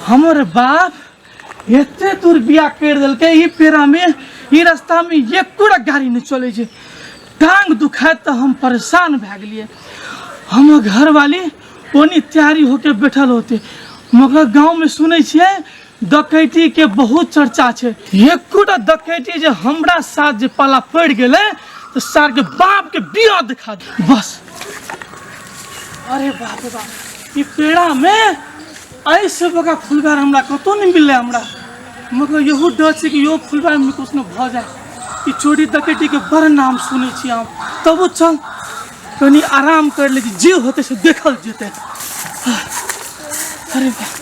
हमर बाप एते दूर बिया कर देलकै ई पेरा में ई रास्ता में एको टा गाड़ी नहीं चले छै टांग दुखाए तऽ हम परेशान भए गेलिए हमर घरवाली ओनी तैयारी होके बैठल होते मगर गाँव में सुनै छियै डकैती के बहुत चर्चा छै एकोटा डकैती जे हमरा साथ जे पाला पड़ गए तो सार के बाप के बिया दिखा दे बस अरे बाप रे बाप ये पेड़ा में ऐसे बका फुलबार हमरा कतो नहीं मिले हमरा मगर यहू डर से कि यो फुलबार में कुछ न भ जाए कि चोरी डकैती के बड़ नाम सुने छी हम तबो चल कनी आराम कर ले जे होते से देखल जेते अरे बाप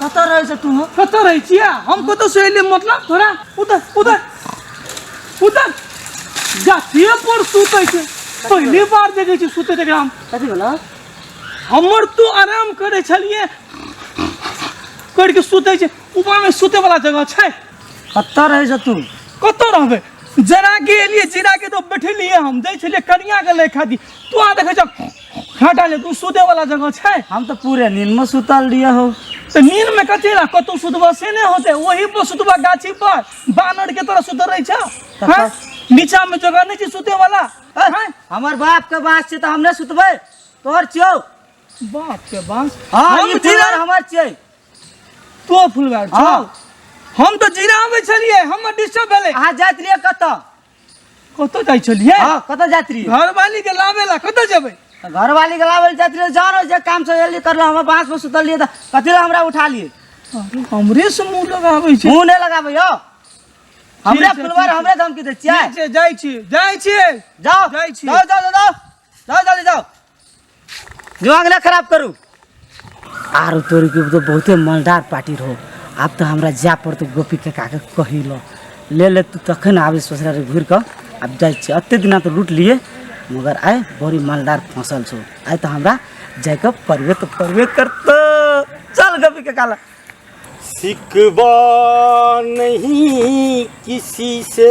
कतऽ रहै छै तू कतऽ रहै छियै हम कतऽ से एलियै मतलब तोरा उधर उधर उधर जातिए पर सुतै छै पहली बार देखै छी सुतै एकरा हम कथी भेलौ हमर तू आराम करै छलिए करि के सुतै छै ऊपरमे सुतै वाला जगह छै कतऽ रहै छै तू कतऽ रहबै जरा के एलियै जीरा के तो बैठलिए हम दै छलिए कनिया के लेखा दी तू आ देखै छ हाँ डाले तू सुते वाला जगह छै हम तो पूरे नींद में सुतल रहिए हो तो नींद में कथी ला कतौ सुतबा से नहीं होते वही पर सुतबा गाछी पर बानर के तरह सुतल रही छा हाँ? नीचा में जगह नहीं छै सुते वाला हाँ? हमार बाप के बात से तो हम नहीं सुतबे तोहर छियो बाप के बांस हाँ हम ई जीरा- फुलर हमार छियै तो फुलवार छौ हाँ। हम तो जीरा आबै छलिए हम डिस्टर्ब भेलै अहाँ जाइत रहिए कतऽ कत जाइ छलिए हां कत जात रही घरवाली के लावे ला कत जेबे घरवाली के लावे जात रही जानो जे काम से एली करला हम बांस पर सुतल लिए त कथिला हमरा उठा लिए अरे हमरे से मुंह लगाबै छै मुंह नै लगाबै हो हमरे फुलवार हमरे धमकी दे छियै जे जाइ छी जाइ छी जाओ जाइ छी जाओ जाओ जाओ जाओ जल्दी जाओ दिमाग ना खराब करू आरो तोरी के तो बहुते मलदार पार्टी रहो आब तो हमरा जा पड़तो गोपी के काके कही लो ले ले तू तखन आबे ससुरा रे घुर के अब जाय छी अते दिना तो लूट लिए मगर आय बड़ी मलदार फसल छो आय तो हमरा जाय के परवे तो परवे करतो चल गोपी के काला सिकवा नहीं किसी से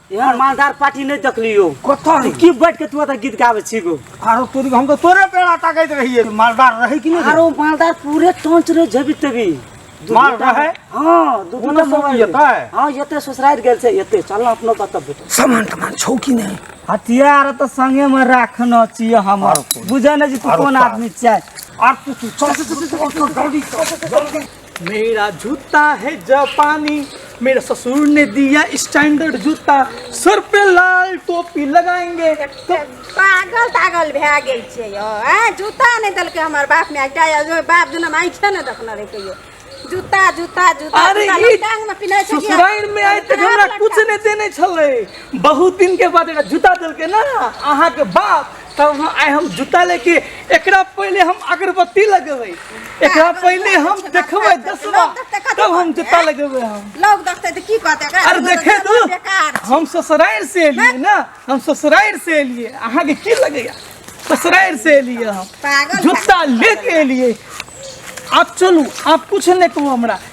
यार मालदार पार्टी नहीं देखलियो कथा तू की बैठ के तू एतऽ गीत गाबै छी गो आरो तोरी हम तो तोरे पेड़ा ताकैत रहिए मालदार रहे कि नहीं आरो मालदार पूरे टोंच रे जेबी तेबी दू माल घंटा- रहे? हाँ दू पूरा घंटा सब मोबाइल येतै? रे। हाँ येते ससुराल गेल छै येते चल ना अपनो बात बेटा सामान तमान छौ कि नहीं हथियार तऽ संगे मे राखना छियै हम आरो कोन? बुझै नहि जे तू आरो कोन साथ। आदमी छियै आर तू तू चल चल चल जल्दी चल जल्दी मेरा जूता है जापानी मेरे ससुर ने दिया स्टैंडर्ड जूता सर पे लाल टोपी लगाएंगे तो पागल तागल भए गेल छियै यौ आ जूता नहि देलकै हमर बाप माय एकटा यौ, जो बाप जेना माइछे नहि देखने रहै कहियो जूता जूता जूता अरे जूता ई लोग टांग मे पिन्है छै कि- ससुराल में आए तक हमरा कुछ नहीं देने छले बहुत दिन के बाद एकटा जूता देलके ना अहाँ के बाप तब हम आइ हम जूता लेके एकरा पहले हम अगरबत्ती लगेबै एकरा पहले हम देखबै दसवा तब हम जूता लगेबै हम लोग देखते तो की कहते एकरा अरे दुनू देखे के तू बेकार छै। हम ससुराल से एलियै ना हम ससुराल से एलियै अहाँके की लगैया ससुराल से एलियै हम पागल जूता लेके एलियै आप चलू आप कुछ नहि कहू हमरा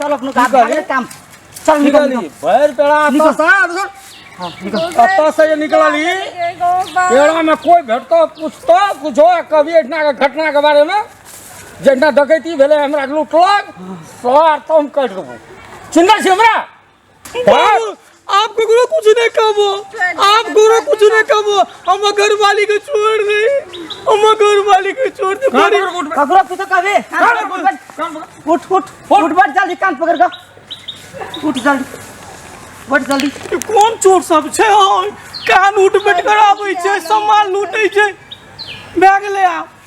चल अपनो काम निकल। भागे काम चल निकल निकली निकल भैर पेड़ा निकल। तो सा देखो हाँ, निकल कत्ता से ये निकलली पेड़ा में कोई भेटतो पूछतो कुछो कभी इतना के घटना के बारे में जितना डकैती भेले हमरा लूटलक सर तुम कट देबो चिन्ता छी हमरा आप गुरु कुछ नहीं कहो आप गुरु कुछ नहीं कहो हम घर वाली को छोड़ दे हम घर वाली को छोड़ दे बड़ी ककरो कुछ कहे उठ उठ उठ बैठ जल्दी कान पकड़ का उठ जल्दी बैठ जल्दी ई कोन चोर सब छै ओय? कान उठ बैठ कर आबै छै सामान लूटै छै बैग ले आ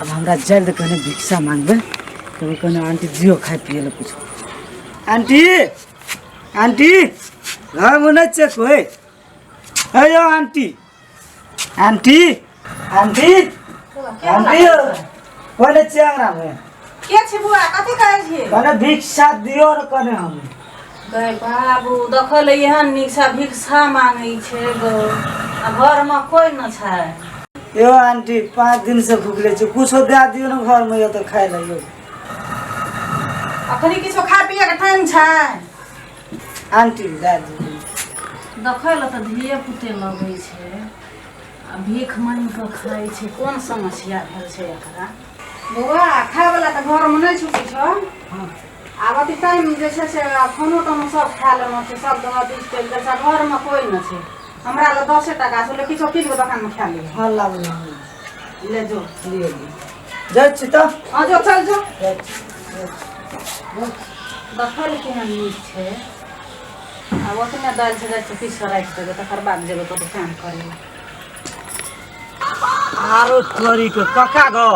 अब हमरा जल्द कहने भिक्षा मांगबे तो कहने आंटी जियो खाए पिए ले कुछ आंटी आंटी घर में नहीं चेक होए अयो आंटी आंटी आंटी आंटी कोने चेक ना में के छी बुआ कथी कहै छी कहने भिक्षा दियो और कहने हम गए बाबू देखल एहन नीचा भिक्षा मांगे छे गो आ घर में कोई न छै यो आंटी पाँच दिन से भूखले छी कुछो दे दियो ने घर में यो तो खाए ले यो अखनी किछो खा पिए के टाइम छै आंटी दे दियो देखै ल त धिये पुते लगै छै आ भीख मांगि कऽ खाइ छै कोन समस्या भेल छै एकरा बौआ खाय वाला त घर में नहीं छुटी छौ आब अथी टाइम जे छै से फोनो तोनो सब खा लेलहुँ छै सब दोनो बीस चलि जाइ छै घरमे कोइ नहि छै हमरा लग दसे टाका छै लेकिन किछो किछु दोकानमे खा लिअ हँ लाबू लाबू ले जो लिअ लिअ जाइ छी तऽ हँ जो चल जो जाइ छी, जाइ छी। देखल केहन नीक छै आ ओतने दालि से जाइ छै पीस राखि देबै तकर बाद जेबै कतहु काम करै लए आरो तोरी के कका गो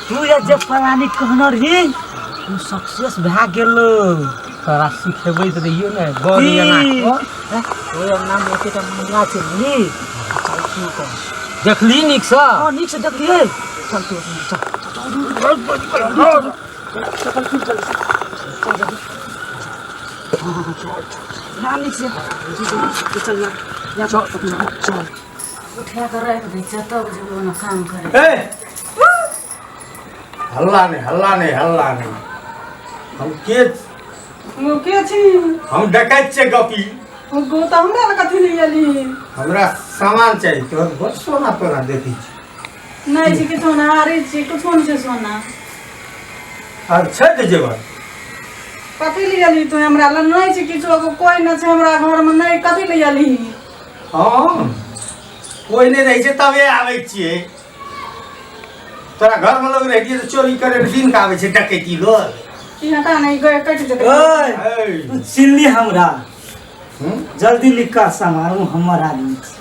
तू ये जे पलानी कहना रही तू सक्सेस भए गेल तोरा सिखेबै तऽ रहियो ने गौर ई। जेना कऽ। ओए नाम ओते तऽ मंगला छै नी चल तू कर देखली नीकसँ हां नीक से देखलिए चल तू चल चल चल चल चल हल्ला नहीं हल्ला नहीं हल्ला नहीं हम के ओ के छी हम डकैत छे गपी ओ गो त हमरा लग कथी ले एली हमरा सामान चाहिए तोहर बहुत सोना तोरा देखी छी नहीं जी कितो ना आ रही जी कुछ कौन से सोना आर छै तऽ जेवर कथी ले अली तू हमरा लग नहीं जी कितो को कोई ना छै हमरा घर में नहीं कथी ले अली हँ कोइ नहि रहै छै तबे आबै छियै तोरा घरमे लोग रहतियै तऽ चोरी करै लए दिन कऽ आबै छै डकैती लोग ई हटा नहीं गए कट दे ओए है। तू चिल्ली हमरा हूँ? जल्दी लिखा समारू हमर आदमी छी।